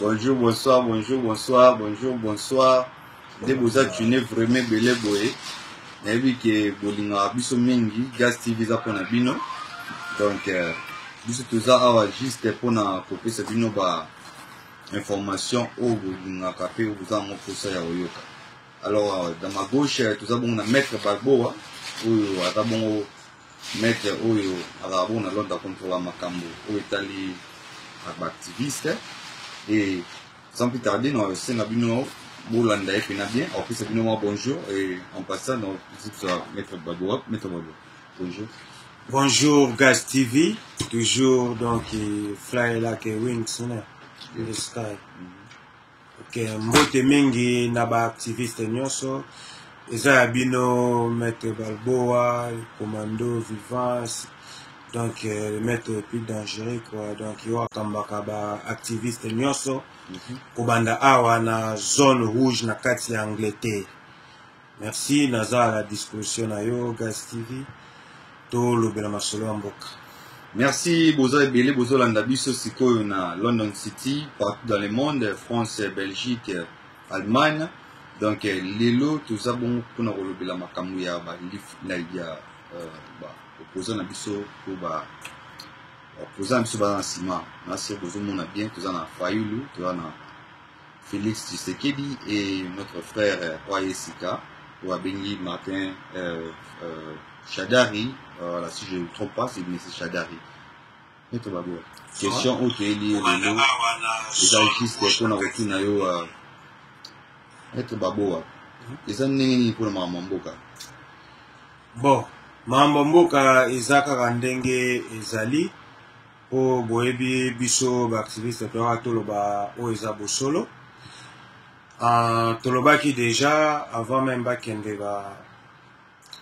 bonjour bonsoir bonjour bonsoir bonjour bonsoir nde boza tune vraiment ebele boye nayebi ke bolingaka biso mingi gas tv eza mpona bino donc euh, biso toza awa juste mpona kopesa bino ba information oyo bolingaka mpe boza yango mposa ya koyoka alors euh, dans ma gauche euh, toza bongo na maître balboa oyo aza bongo Maitre oyo azalaka bongo na Londres akontrola makambo oyo etali baactiviste e sans plus tarder na esenga bino bolanda ye mpena bien akopesa bino mwa bonjour e en passant na kozipsa maître baboa maître baboa bonjour Bonjour Gas TV, toujours donc Fly Like a Wings in the sky. Okay, mbote mingi na baactiviste nyonso eza ya bino maître balboa commando vivance donc euh, le maître le plus dangereux quoi donc yo akambaka baactiviste nyonso mhm. kobanda awa na zone rouge na kati ya angleterre merci naza à la disposition na yo gas tv tolobela masolo ya mboka merci boza ebele bozolanda biso sikoyo na london city partout dans le monde france belgique allemagne donc eh, lelo toza bongo mpona kolobela makambo ya ya baopposant euh, na biso mpo baopposant na biso baza na nsima na se bozomona bien toza na fayulu toza na Felix Tshisekedi et notre frère euh, Oye Sika, ou Abengi Martin euh, euh, Shadari, euh, voilà, si je ne me trompe pas, c'est M. Shadari. Maître Babo, question oyo toyeli ye lelo eza juste mpona kotuna yo euh, Maître Baboa, eza ndenge nini mpona makambo ya mboka bon mambo mboka eza kaka ndenge ezali mpo boyebi biso baaktiviste toyaka toloba oyo eza bosolo uh, tolobaki deja avant meme bakende ba,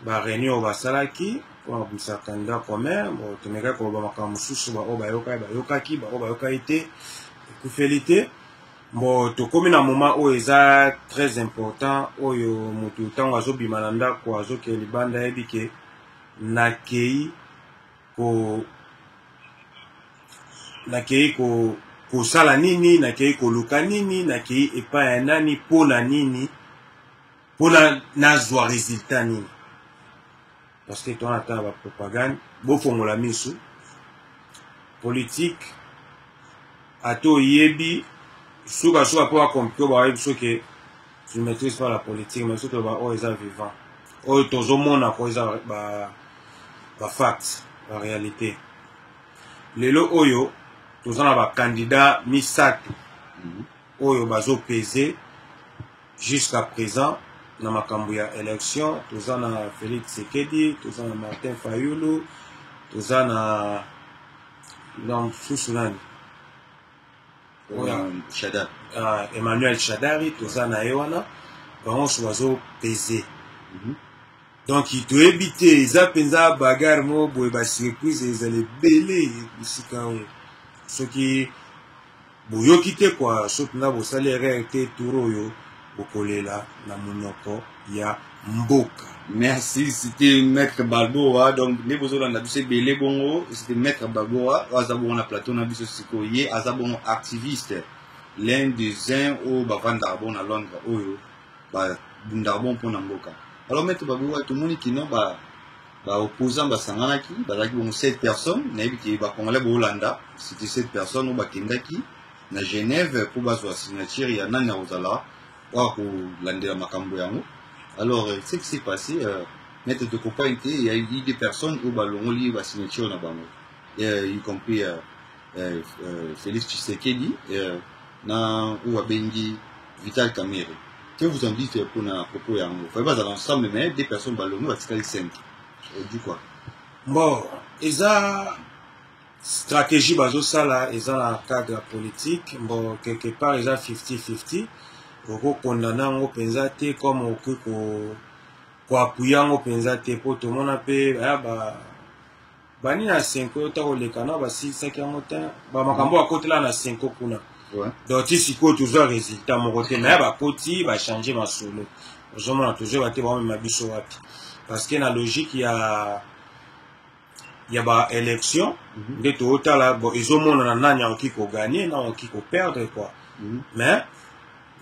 ba réunion oyo basalaki mpo na kobimisa candidat commun bon, tomekaki koloba makambo mosusu baoyo bayokaki bayokaki baoyo bayokaki te ekufeli te bon tokomi na moment oyo eza très important oyo motu ntango azobima na ndako azokende libanda ayebi ke nakei ko nakei ko kosala nini nakei koluka nini nakei epai ya nani mpo na nini mpo na nazwa resultat nini parce que towana ata bapropagande bofongola miso politike ata oyebi sukasuka mpo bakomplike bayebi soki je maîtrise pas la politique mais surtout ba oyo eza vivant oyo tozomona ko eza ba ba facts ba réalité lelo oyo toza na ba candidat misato mhm. oyo bazo pese jusqu'à présent na makambo ya élection toza na Félix Tshisekedi toza na Martin Fayulu toza na na mosusu nani ah, emmanuel shadari toza na ye wana bango nyonso bazo pese mhm. donc toyebi te eza mpenza bagare moko boye basurprise ezala ebele bisika yango soki boyoki te kwa soki mpenza bosali erreur te tour oyo bokolela na munoko ya mboka merci c'était maître balboa donc nde bozolanda biso ebele bongo c'était maître balboa oyo aza bongo na plateau na biso sikoyo ye aza bongo activiste l'un des uns oyo bavandaka bongo na londres oyo babundaka bongo mpo na mboka alors maître balboa tomoni kino ba baopposant basanganaki bazalaki bongo 7 personnes nayebi ke bacongolais boolanda c'était 7 personnes oyo bakendaki na Genève mpo bazwa signature ya nani akozala oyo akolandela makambo yango alors euh, ce qui s'est passé euh, maître de compagne te ya i des personnes oyo balongoli basignature na bango euh, y compris euh, euh, euh, félix tshisekedi euh, na oyo abengi vital kamere que vous en dites mpo na propos yango fai bazala ensemble mais des personnes balongi batikali 5 du quoi bon eza stratégie bazosala eza na cadre ya politique bon quelque part eza 50-50 okokondana yango mpenza te comme okoki koapuya yango mpenza te mpo tomona mpe aya ba bani na senko yo ta koleka na basilisaki yango te bamakambo bakotela na senko kuna donc ti sikoyo tozwa résultat moko te naye bakoti bachange masolo ozomona tozoyeba te baomema biso wapi parce que na logique ya ya ba élection mm -hmm. nde totala bon ezomonana nani akoki koganye na akoki koperdre quoi mm -hmm. mais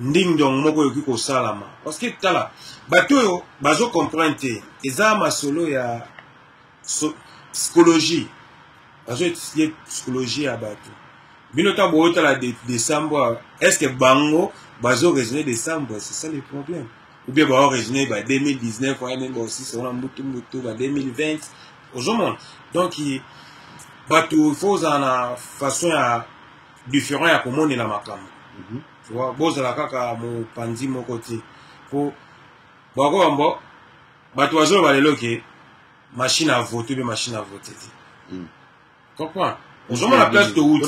nding dong moko ekoki kosalama parce que tala bato oyo bazo comprendre te eza masolo ya so, psychologie bazo etudier psychologie ya bato bino ntango boyotala desambo est ce que bango bazo raisonner desambo c'est ça le problème ou bien ba raisonner ba 2019 ouais même aussi c'est on mutu mutu ba 2020 ozomona donc bato faut ozala na façon ya différent ya komonela makambo mhm. tu vois bozala kaka mopanzi moko te po bwako bambo bato bazoloba lelo ke machine avote mpe machine avote te mm. comprends ozomona place towuti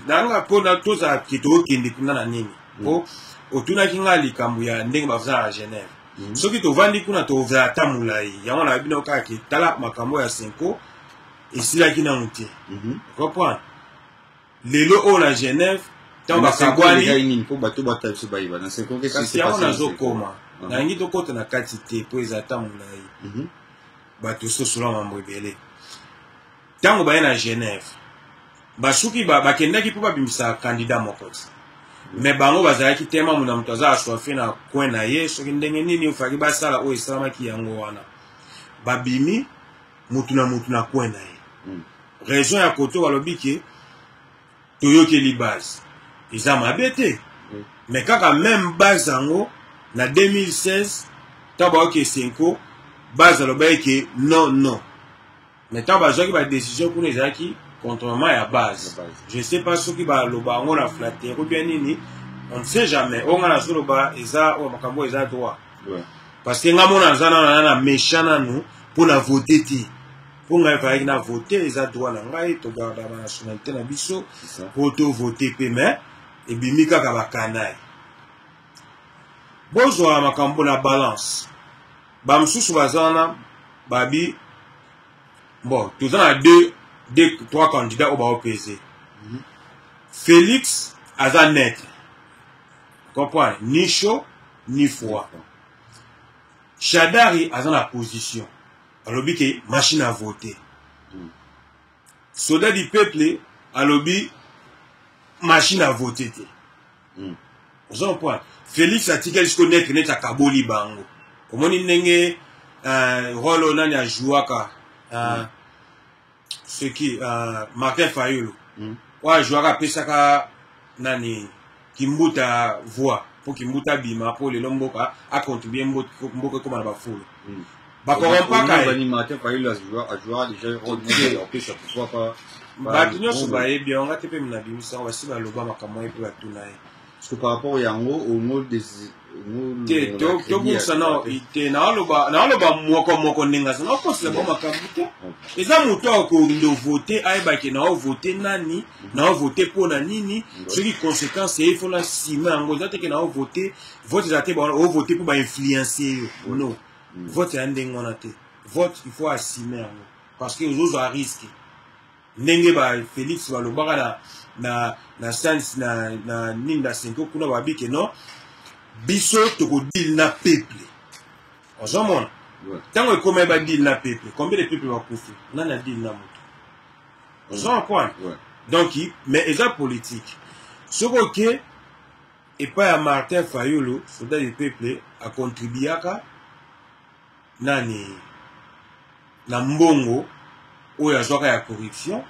nanga mpo tozala ke tookende kuna na nini mpo mm. otunaki ngai likambo ya ndenge bazala na genève mm. soki tovandi kuna tozala ata molai yango na bino kaka ke tala makambo ya senko esilaki nanu te mm-hmm. comprendre lelo oyo na genève ntango bakabwani mpo bato bata biso bayeba na kasi yango nazokoma ah. nalingi tokota na kati te mpo eza ata molai mhm. bato sosola mambo ebele ntango baye na genève basuki bakendaki mpo babimisa kandida moko ti me bango bazalaki te mamu na moto aza aswafe na coin na ye soki ndenge nini ofaki basala oyo esalamaki yango wana babimi motu na motu na coin na ye mm. raison ya koto balobi ke toyokeli base eza mabe te mm. mais kaka meme base yango na 2016 ntango bayoki esenko base alobaki ke non non mais ntango bazwaki badécision kuna ezalaki contrement ya base je sais pas soki baloba yango na flatterie obia nini on ne sait jamais oyo ngai nazoloba eza oyo makambo eza droit parce que nga mona aza nana na méchant nanu mpo na vote te mpo ngai fayaki na vote eza droit na ngai togardaka banationalité na biso mpo tovote mpe mais ebimi kaka bakanai bozwa makambo na balance bamosusu baza wana babi bon toza na deux deux trois candidats oyo baopese mhm. félix aza neutre comprendre ni chaud ni froid shadari aza na position alobi ke machine a vote hmm. soda du peuple alobi machine a vote te hmm. oza comprendre félix atikali siko netre neti akaboli bango omoni ndenge uh, rolo nani ajouaka uh, hmm. seki uh, martin fayulu mm. oyo ajuaka apesaka nani kimbuta voix mpo kimbuta abima mpo lelo mboka acontribue mboka ekóma na bafulu mm. bakompakabato nyonso bayebi yango te mpe minabimisa yango basi baloba makambo ye mpe batuna ye Parce que par rapport yango au mot des te tobungisa nao te naaloba naaloba moko moko ndenge aza nakosela bango makambo te eza moto ya kondo vote ayebake nao vote nani mhm. nao vote mpo na nini soki conséquence eye fona nsima yango eza teke nao vote vote eza te baona ovote mpo bainfluence yo no mhm. vote ya ndenge wana te vote il faut asime yango parce que ozozwa risque ndenge ba Felix balobaka na na na sans na na nini na senko kuna babi que non biso toko deal na peuple ozomona ntango ekoma ba deal na peuple combien de peuple bakufi nani a deal na moto ozoma kwana donc mais eza politique soki oke epai ya martin fayulu soldat du peuple acontribuaka nani na mbongo oyo azwaka ya corruption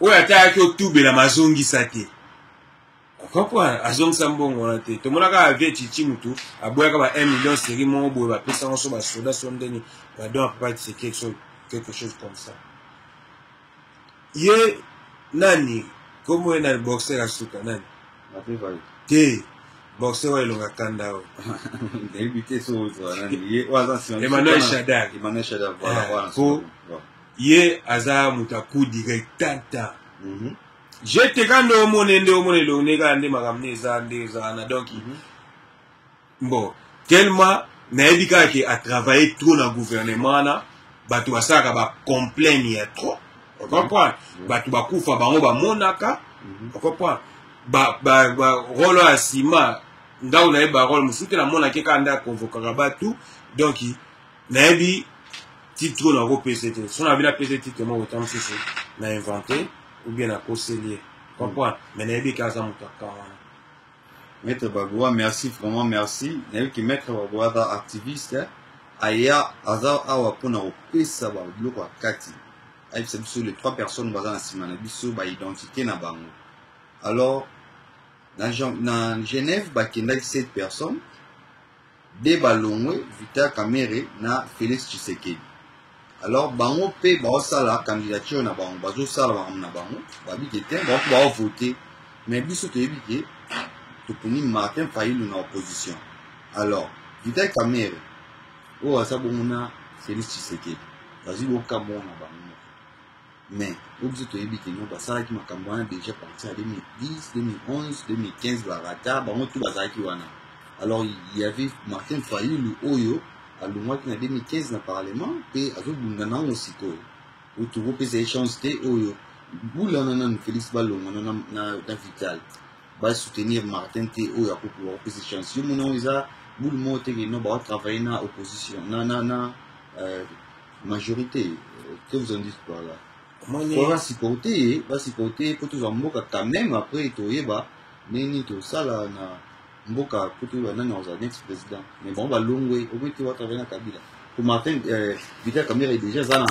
oyo ata ayaki otubelama azongisa te comprendre azongisa mbongo wana te tomonaka avie chichi mutu aboyaka ba 1 million seri moko boye bapesa yango so basoda so ndenge badon apapa tisekeki so quelque chose comme ça ye nani komo ye na boxer ya suka nani te boxer oyo elonga kanda oyo emmanuel shadar ah, po ye aza moto ya coup direct tata mhm. je te kanda omone nde omona elongi nde kaka nde makambo nde eza nde eza wana donk mhm. bon tellement nayebi kaka ke atravaille trop na gouvernement wana bato basalaka bacomplaine ya trop ocomprendre mhm. bato bakufa bango bamonaka mhm. ocomprendre role ya nsima ndako nayebi barole mosusu te namonaki kaka nde akonvokaka bato donk nayebi titre oyo nakopesa te so nabi napesa titre moko ta mosusu na invente ou bien nakoseli ye comprendre mhm. mais nayebi kaka aza moto akanga Maître Bagua, merci vraiment merci. Nayebi que Maître Bagua aza activiste, aya aza awa mpona kopesa ba biloko ya kati. Ayebisa biso les trois personnes baza na nsima na biso ba identité na bango. Alors na, na Genève bakendaki 7 personnes de balongwe Vital Kamerhe na Felix Tshisekedi alors bango mpe baosala candidature na bango bazosala makambo na bango babi ke te baoki baovote mais biso toyebi ke toponi martin fayulu na opposition alors vital kamere oyo aza bongo na felix tshisekedi bazwi bokambo na bango mais oyo biso toyebi ke no basalaki makambo wana déjà parti ya 2010 2011 2015 barata bango tu bazalaki wana alors il y avait martin fayulu oyo alongwaki na 2015 na parlement mpe azobunda nango sikoyo oyo tokopesa ye chance te oyo bula wana nanu félix balongwa na, na, na vital basoutenir martin te oyo akokoka kopesa chance yo mona oyo eza bulu moko te keno baotravaille na opposition na, na, na euh, majorité que vous en dites par là fo basupporte ye basupporte ye mpo tozwa mboka quand même après toyeba ndenge nini tosala na mboka mpo toyeba nani akozala next président mais bango balongwe omoi te batravaille na kabila mpo martin euh, vita kamere déjà aza na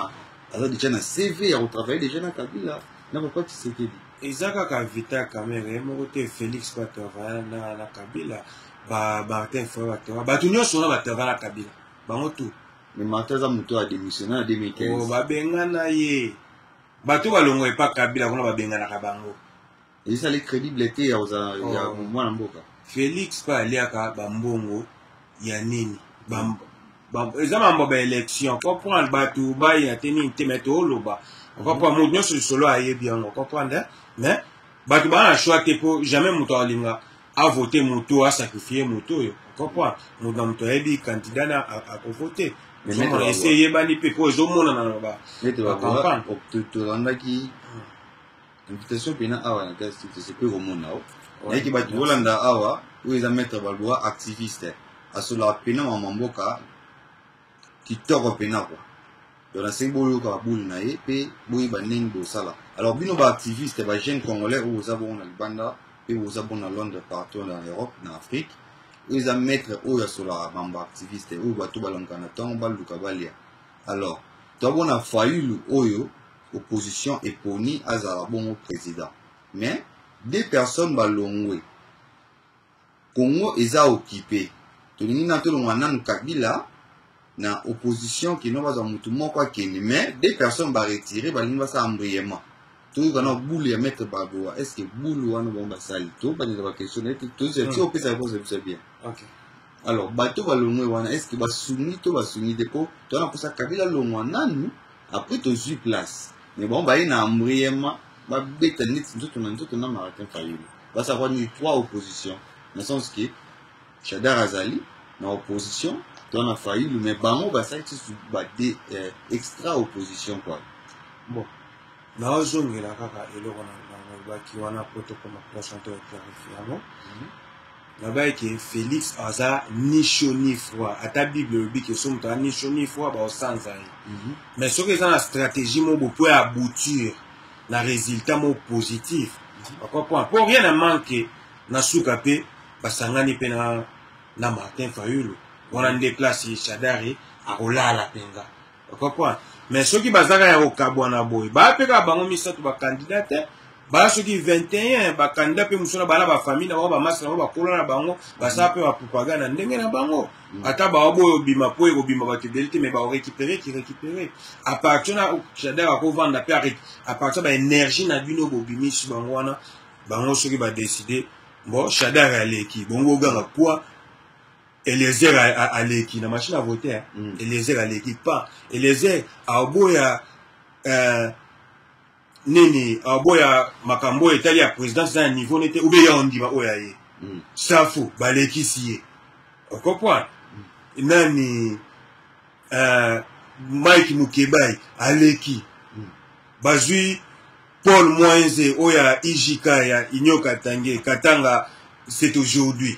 aza déjà na cv ya kotravaille déjà na kabila na papa tshisekedi eza kaka vita kamere ye moko te félix batravaille na, na kabila ba martin fo batravaille bato nyonso wana batravaille na kabila bango tout mais martin aza moto oyo adémissionne na 2015 oh, babengana ye bato balongwa epa kabila kuna babenganaka bango ezali crédible te ya kozala ya oh. mwana mboka félix mpe aliaka bambongo ya nini eza mambo ba élection comprendre bato baya te nini te me tooloba comprendre moto nyonso lisolo ayebi yango comprendre mais bato baa na choix te mpo jamais moto alinga avote moto oyo asakrifie moto oyo comprend moto na moto ayebi kandida na akovote ozomona esi eyebani mpe mpo ezomonana na bacampagne tolandaki invitation mpena awa na test mpe komona o nayaki bato bolanda awa oyo eza maître baloi activiste asolaka mpena mama mboka kitoko mpenza kwa donc nasengi boyoka babule na ye mpe boyeba ndenge bosala alors bino baactiviste ba jeune congolais oyo boza bongo na libanda mpe boza bongo na londres partout na europe na afrique oyo eza maître oyo asolaka bambo activiste oyo bato balamuka na ntongo baluka balia alors tobona fayulu oyo opposition eponi azala bongo président mais deux personnes balongwe Congo eza occupe tolingi na tolongola nanu kabila na opposition kino bazwa motu moko akende mais deux personnes baretire balingi basala mbriyement toyoka na bulu ya maître bagoa est ce que bulu wana bango basali tobandela baquestion naye tozati hmm. opesa réponse ya biso ya bien alors bato balongwe wana est ce que basungi to basungi te mpo towana mposa kabila longwa nanu après tozwi place mais bango baye na mbriyement babeta neti nzoto na nzoto na maratin fayulu basa kwa ni trois opposition na sens que Shadar azali na opposition to na Fayulu mais bango basali tisusu ba de eh, extra opposition quoi bon naozongela kaka eloko nalobaki wana po tokoma prochain to clarifie yango nabaki ke félix aza ni chaud ni froid ata bible elobi ke so moto aza ni chaud ni froid baosanza ye mais soki eza na stratégie moko bopo ya bouture na resultat moko positif papa point mpo rien na manque na suka mpe basangani mpe na, na martin fayulu wana nde place shadari akolala mpenza papa point mais soki bazaka ya kokabwana boye baya mpe kaka bango misato bakandida te baya soki 21 bakandida mpe mosala bana bafamille na bango bamasi na bango bakolo na bango basala mpe bapropagande na ndenge na bango Mm. ata baobo oyo obima mpo ekobima bato ebele te mai baorécupere kirécupere à partir na jardin bakovanda mpe à partir baénergie na bino bobimisi bango wana bango soki badeside bo shadar aleki bongo oganga kua eliezer aleki na machine à vote mm. eliezer aleki pas eliezer aoboya euh, nini aboya makambo oyo etali ya présidence na ya niveau nete ube ya ondima oyo ya ye mm. safu balekisi ye okopwana mm. nani uh, mike mukebai aleki mm. bazwi paul moinze oyo ya ijk ya union katange katanga c'est aujourd'hui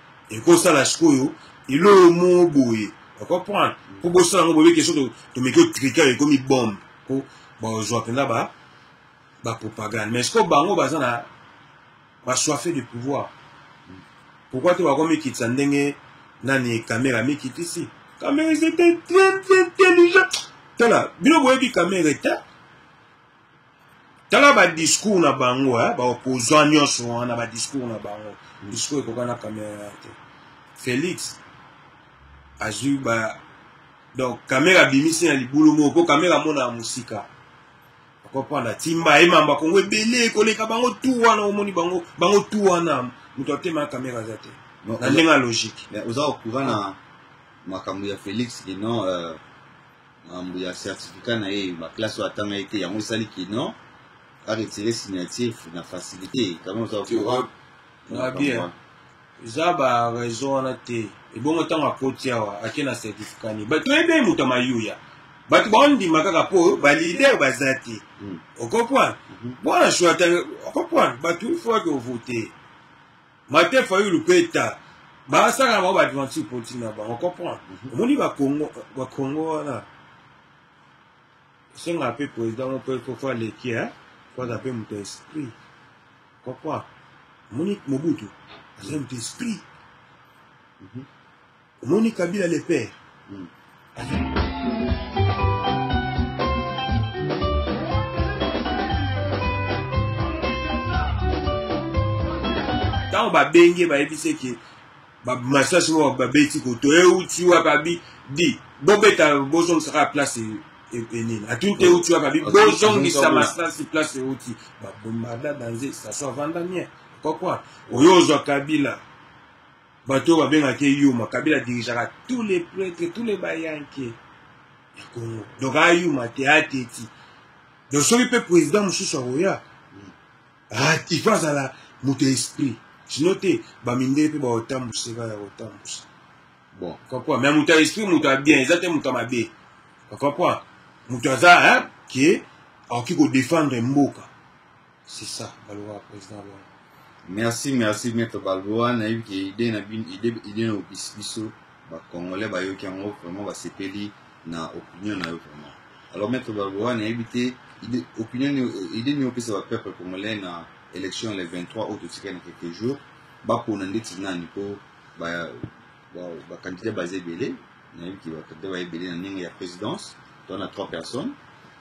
ekosala sikoyo eloko moko boye okomprendre mpo bosala yango boyebi kesho tomeki otrika ekomi bombe mpo bazwa mpenza bapropagande mais sikoyo bango baza na basoife de pouvoir pourkoi te bakomikitisa ndenge nani kamera amikitisi kamera ezete très très intelligent tala bino boyebi kamera ete tala badiscour na bango eh, baopposant nyonso wana badiscour na bango discour ekoka na kamera te félix azwi ba donc kamera abimisi na libulu moko mpo kamera amona ya mosika okoprendre timba ye mamba kongo ebele koleka bango tu wana omoni bango bango tu wana moto atema ya kamera aza te na ndenge ya logique oza okura na makambo ya félix kino euh, makambo ya certificat na ye ba classe oyo atanga ye te yango esali kino aretire signature na facilité kama oza courant na bien eza ba raison wana te ebongo ntango akoti awa ake na certificat ni bato oyebe moto ya mayuya bato baondima kaka mpo balider baza te hmm. okopoint mpona hmm. shwata okopoint bato ifo ake ovote Martin Fayulu pe ta basaka na bango ba adventure politique na bango comprendre mhm. omoni ba Congo ba Congo wana senga pe président mo pe ko fa leki hein ko za pe moto esprit comprendre omoni Mobutu azali moto esprit mhm. Omoni Kabila le père. Mm. ntango babenge bayebisi eke masasi moko babeti koto euti wapi abi di bobeta bozongisa kaka place e, e, enini atuni te euti wapi abi bozongisa masasi place euti babombarda danze station avanda nien kokwa oyo ozwa kabila bato oyo babengaka ye yuma kabila dirigeaka tous les prêtres tous les bayanke ya congo donc ayuma te ateti donc soki mpe président mosusu akoya ah, il faut azala moto ya esprit sino te bamindele mpe bakotambusa epai ya kotambusa bon kapwa mais moto ya esprit moto ya bien eza te moto ya mabe kapwa moto aza ke akoki kodefendre mboka c'est ça balobaka président loi merci merci maître balboa nayebi ke ide na bino ide ide na opesi biso bacongolais bayoki yango vraiment basepeli na opinion na yo vraiment alors maître balboa nayebi te ide opinion ide nini opesa bapeuple congolais na élection le 23 oyo totikali na quelques jours bapona ndeti nani mpo Wow, ba candidats baza ebele, nayebi ke ba candidats baye ebele na ndenge ya présidence, toza na trois personnes,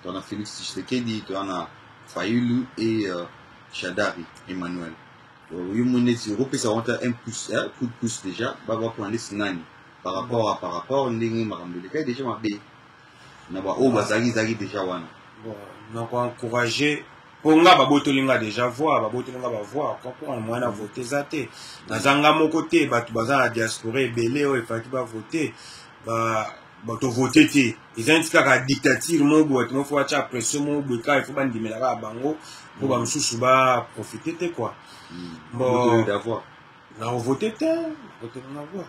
toza na Félix Tshisekedi, toza na Fayulu et euh, Shadari Emmanuel. Euh, yo moni neti okopesa bango ata un plus, eh, coup de plus déjà, ba bakona neti nani par rapport à par rapport ndenge makambo elekaki déjà mabe. na baoyo bazalaki ezalaki deja wana nakoencourage mpo nga babotoli nga deja voir babotoli nga bavoir kokona moyen na vote eza te naza nga moko te bato baza na diaspora ebele oyo efaki bavote tovote te eza neti kaka dictature moko boye bato moko fo batya pression moko boye kaka ifo bandimela kaka bango mpo mm. bamosusu baprofite te kua mm. nakovote te nakotelanga voir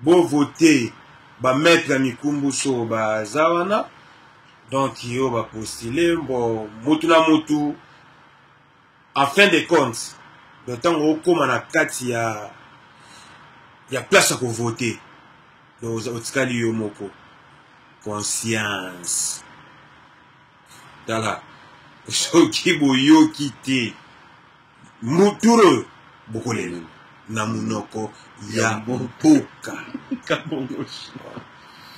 Bo voter ba maître ya mikumbu so baza wana donc yo ba postuler bon mutu na mutu en fin de compte donc ntango okóma na kati ya ya place ya kovote donc otikali yo moko conscience tala soki boyoki te muturo bokolela na munoko ya mboka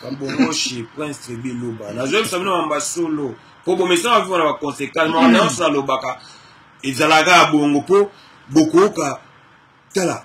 kambongoshi prince tribi luba nazoyebisa bino mamba solo mpo bomesana viva na baconsequence makambo nyonso nalobaka ezalaka ya bongo mpo bokoyoka tala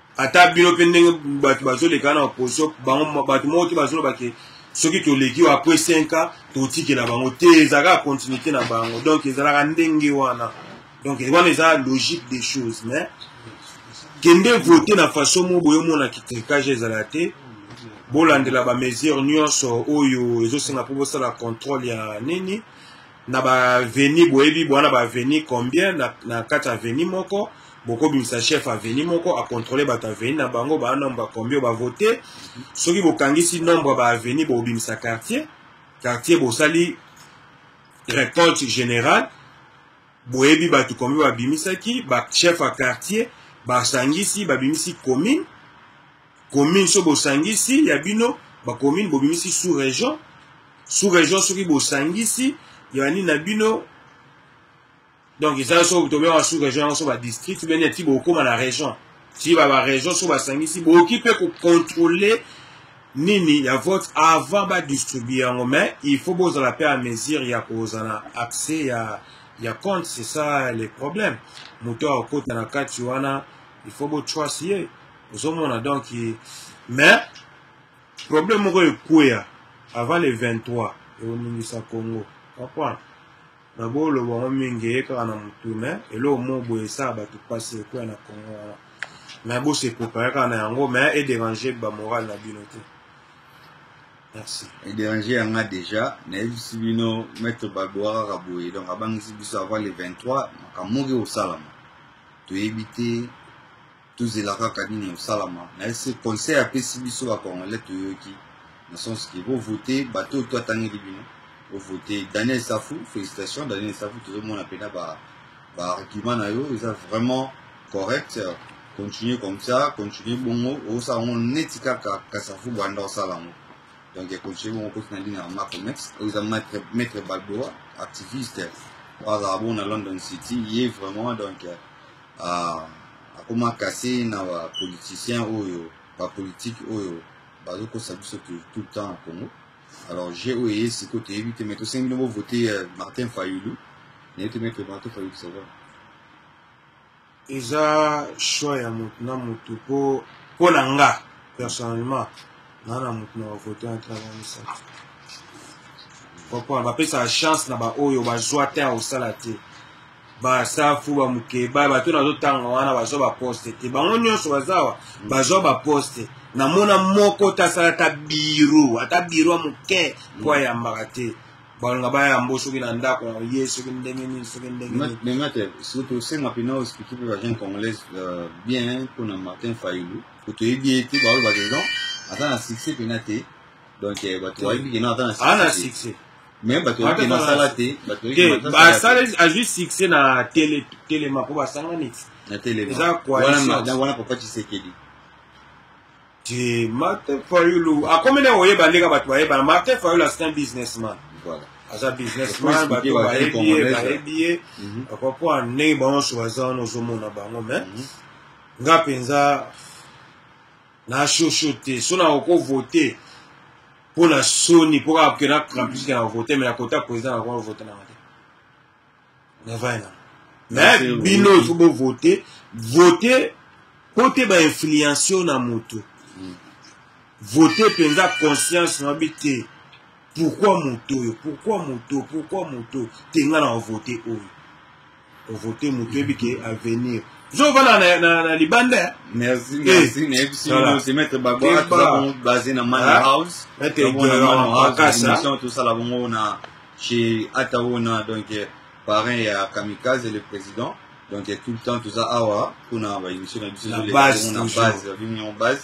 ata bino mpe ndenge bato bazoleka na opposition bango bato moko te bazoloba ke soki toleki oyo après 5 ans totikela bango te ezalaka continuité na bango donc ezalaka ndenge wana donc wana eza logique des choses mais kende vote na façon moko boyomona kitrikage ezala te bolandela bamesure nyonso oyo ezosenga mpo bosala contrôle ya nini na baaveni boyebi bwana baaveni combien na, na kati aveni moko bokobimisa chef aveni moko akontrole bato aveni na bango baa nombre ya combien bavote soki bokangisi nombre ya baaveni bobimisa quartier quartier bosali récolte générale boyebi bato combien babimisaki bachef ya quartier basangisi babimisi commune commune so bosangisi ya bino bacommune bobimisi sous région sous région soki bosangisi ya nini na bino donc eza so tobengaka sous région yango so badistrict bene eti bokóma na région ti babarégion so basangisi bokoki mpe kocontrôle nini ya vote avant badistribue yango mais il faut bozala mpe a mesure ya kozala accès ya ya compte c'est ça le problème moto akokota na kati wana il faut botrust ye ozomona donc mais problème moko ekweya avant le 23 ekoningisa congo comprendre na boloba yango mingi eye kaka na motu me eloko moko boye esala bato mpasi ekweya na congo wana me bose prépare kaka na yango me ederange bamoral na bino te merci ederange yanga déjà nayebisi bino maître balboa kaka boye donc abangisi biso avant le 23 makambo moki kosalama toyebi te tozela kaka nini ekosalama na ese conseil apesi biso bacongolais toyoki na sens ke bovote bato oyo to atangeli bino bovote daniel safu félicitation daniel safu tozomona mpena baargument ba na yo eza vraiment correct continue comme ça continue bongo osala yango neti kaka kasafu banda osala yango donc continue bongo koti na lina ya macomex oyo eza maître balboa activiste oyo azala bongo na london city ye vraiment donc Ah, akoma kase na ba politiciens oyo ba politique oyo bazokosa biso tout le temps na Congo. Alors je oyo eye siko toyebi te mais tosengi bino bovote euh, Martin Fayulu naye te maître Martin Fayulu ça va. eza choix ya motu na motu mpo mpo na nga personnellement naa na motu na bavote na ntina na misato comprendre bapesaka chance na baoyo bazwa te ya kosala te basafu bamukeba bato nazotanga wana bazwa baposte te bango nyonso bazawa bazwa baposte namona moko te asala ata biro ata biro ya moke mpo ayambaka te balonga bayambo soki na ndako na ye soki ndenge nini soki ndenge nini benga te surtout osenga mpena ospiki mpe bajeune congolaise euh, bien mpo na martin fayulu kutu oyebi ye te baoyo badedan aza na succès mpena te donc euh, bato bayebi kena aza na succès mais bato bayoki na sala te bato basaleli azwi succès na tele telema mpo basangani na telema eza coalition wana papa tshisekedi te martin fayulu akomi na oyeba ndenge bato bayebana martin fayulu asin businessman voilà aza businessman bato bayebi ye bayebi ye papa mpo ndenge bango nyonso baza wana ozomona bango me mhm. nga mpenza na shosho te so na okovote mpo na soni mpo kaka kena campus kena vote me nakota président nakoa vote nanga te navai na me bino ifo bovote vote mpo te bainfluencio na motu hmm. vote mpenza conscience na bi te pourkui moto oyo pourkui moto pourkui moto te ngai na vote oyo kovote moto oyebi ke avenir zovanda na, na, na libanda eh? merci eh, merci nayebisi bino se mettre bagoa toza bongo basé na mani ah, house émission tosala bongo na chez ataona donc eh, parrain ya kamikaze le président donc tout le temps toza awa mpona baémission na biso na base na base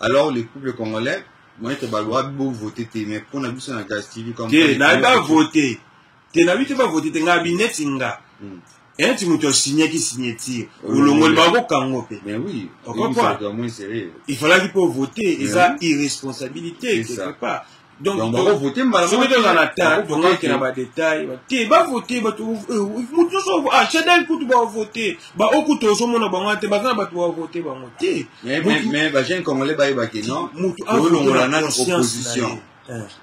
alors le peuple congolais moyete baloa bovote te mais mpo na biso na gas tv te nayebi bavote te nayebi te bavote te ngai bineti nga hmm. enti moto asignaki signature olongoli bakokango mpe il falaki mpo vote eza irresponsabilité quelque part donc bakovote mbala soki toza na temps tokokende na badetail te bavote bato moto nyonso achadal kutu bavote baoyo kutu ozomona bango te baza na bato bavote bango te mais bajeune congolais bayebake non moto olongola nano opposition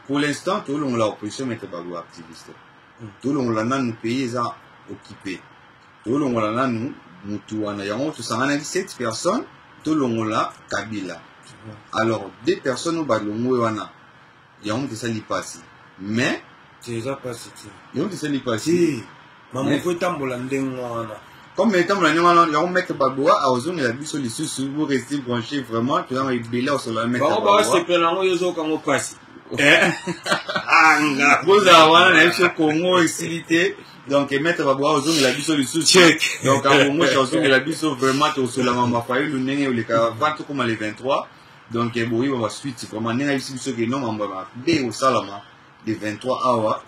pour l'instant tolongola opposition mete bago activiste tolongola nano pays eza occupé tolongola nanu mutu wana yango tosanganaki 7 personnes tolongola kabila alors deux personnes oyo balongwe wana yango moto esali mpasi mais eza mpasi te yango moto esali mpasi mamoko etambola ndenge wana comme etambola ndenge wana yango maître baboa aozongela biso lisusu bo reste branché vraiment tozanga ebele osolola maître baosepela yango yozoyoka yango mpasi eh? anga bozala wana na biso congo esili te donc maître babwa ozongela biso lisusu donc abongosha ozongela biso vraiment tosolama mafayulu ndenge oleka va tokoma le 23 donc boyeba basuite vraiment ndenge ayebisi biso ke no mambo ya mabe osalama le 23 awa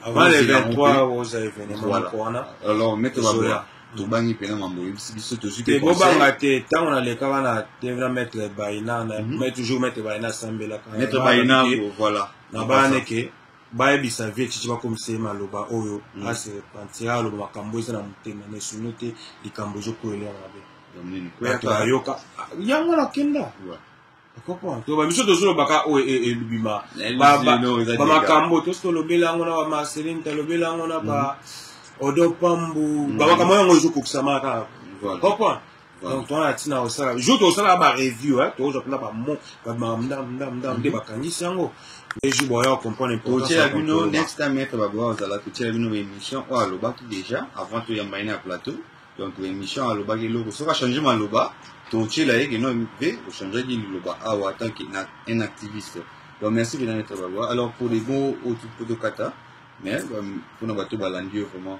alors maître babwa tobangi mpena mambo oyebisi biso tozwibobanga te ntango nalekaka na devna maître baina mhm. toujours maître baina asambelaka maître baina voilà na bana eke bayebisa vie chichi bakomisa ye maloba oyo mm. ase repentira aloba makambo eza na motema na esono te likambo ezokwelea mabe bato bayoka yango nakenda to bamiso tozolobaka oyo e, e, ebima bamakambo tosi tolobeli yango na bamaselin talobeli yango na ba mm. odo pambu mm. bamakambo yango ezokokisama kaka comprendre donc toza na ntina kosala jour tosalaka bareview tokozwa mpena bamdamdamdam nde bakangisi yango nde jour boya comprendre mpotiela bino next time etre baboya kozala totiela bino baémission oyo alobaki déjà avant toyamba ye na plateau donc baémission alobaki eloko soki achange maloba totiela ye keno mpe ochangeaki liloba awa tant que un activiste donc merci bena netre baboya alors pour les mots oyo tokata mais mpona bato balandi yo vraiment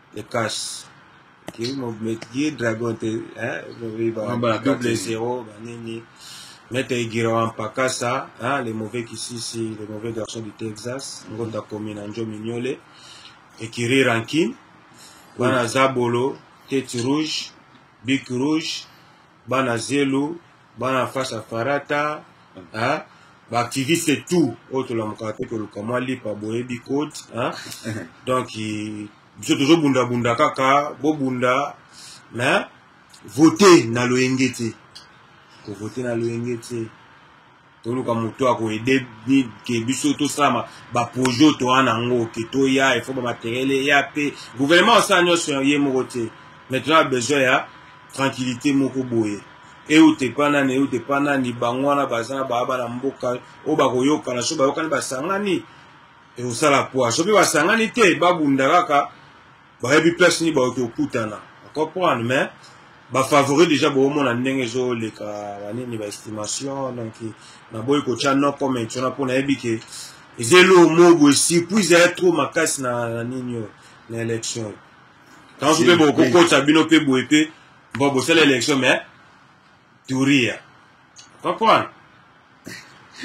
le cash ki ki dragon te hein ba double zero ba nini Maître Igirawa Mpakasa, hein, le mauvais Kisisi, le mauvais garçon du Texas, Ngonda Komina Njo Mignole, Ekiri Rankin, Bana Zabolo, Tete Rouge, Bic Rouge, Bana Zelu, bana na face ya farata hein? baactiviste tout oyo tolamukaka te koluka mwa lipa boyebi code hein? donc biso tozobundabunda kaka bobunda mais vote na loyenge te kovote na loyenge te toluka moto akoede ke biso tosalama baprojet oyo toa na yango ke toya efo bamateriele eya mpe gouvernement osala nyonso ye moko te maintenant besoin ya tranquillité moko boye euta epa nani euta epa nani bango wana baza na baa bana mboka oyo bakoyokana so bayokani basangani ekosala poa soki basangani te babunda kaka bayebi place nini baoki okutana comprendre mais bafavori déjà boomona ndenge ezoleka banini baestimation donc naboyi kotya no comment wana mpo nayebi ke eza eloo mobo esurprise ya trop makasi na nini oyo na élection oyo tanso mpe bokokota bino mpe boye mpe mpo bosala élection mais turia comprendre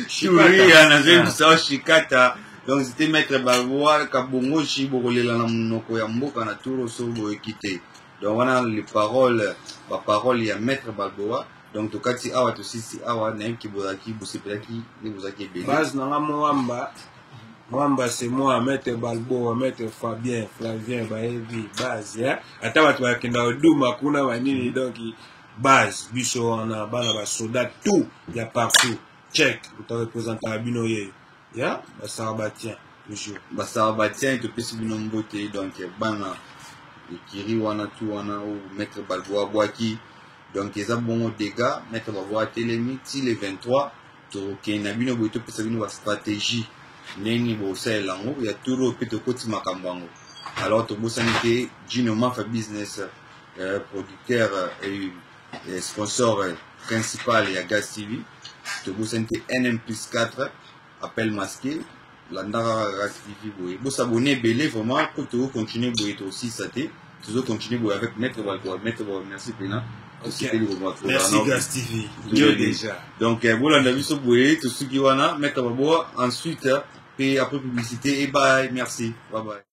turia nazongisa o shikata donc zite maître bavoir kabongoshi bokolela na monoko ya mboka na turo so boyeki te donc wana les paroles baparole ya maître balboa donc tokati awa tosisi awa nayebi ke bozalaki bosepelaki nde bozalaki ebele base nanga moamba mwamba se moi maitre balboa maitre fabien flavien bayebi base eh? ata bato bakenda oduma kuna banini donc base biso wana bana basoda tout ya partout check torepresentaka bino yeyo ya basarabatien toujours basarabatien topesi bino mbote donc bana ekiri wana tu wana o maitre balboa bwaki donc eza bongo dega maitre balboa atelemi ti le 23 tokende na bino boye topesa bino bastratégie ndenge bosalela yango ya turo mpe tokoti makambo yango alors tobosani te jino mafa business euh, producteur euh, euh, sponsor euh, principal ya gas tv tobosani te nm plus 4 appel masqué landaka kaka kasi vivi boye bosabone ebele vraiment mpo tokocontinue boye tosilisa te tozocontinue boye avec maître balkoa maître ba merci pena donc eh, bolanda biso boye tosuki wana maître baboa ensuite eh, pe après publicité e eh, bay merci babaye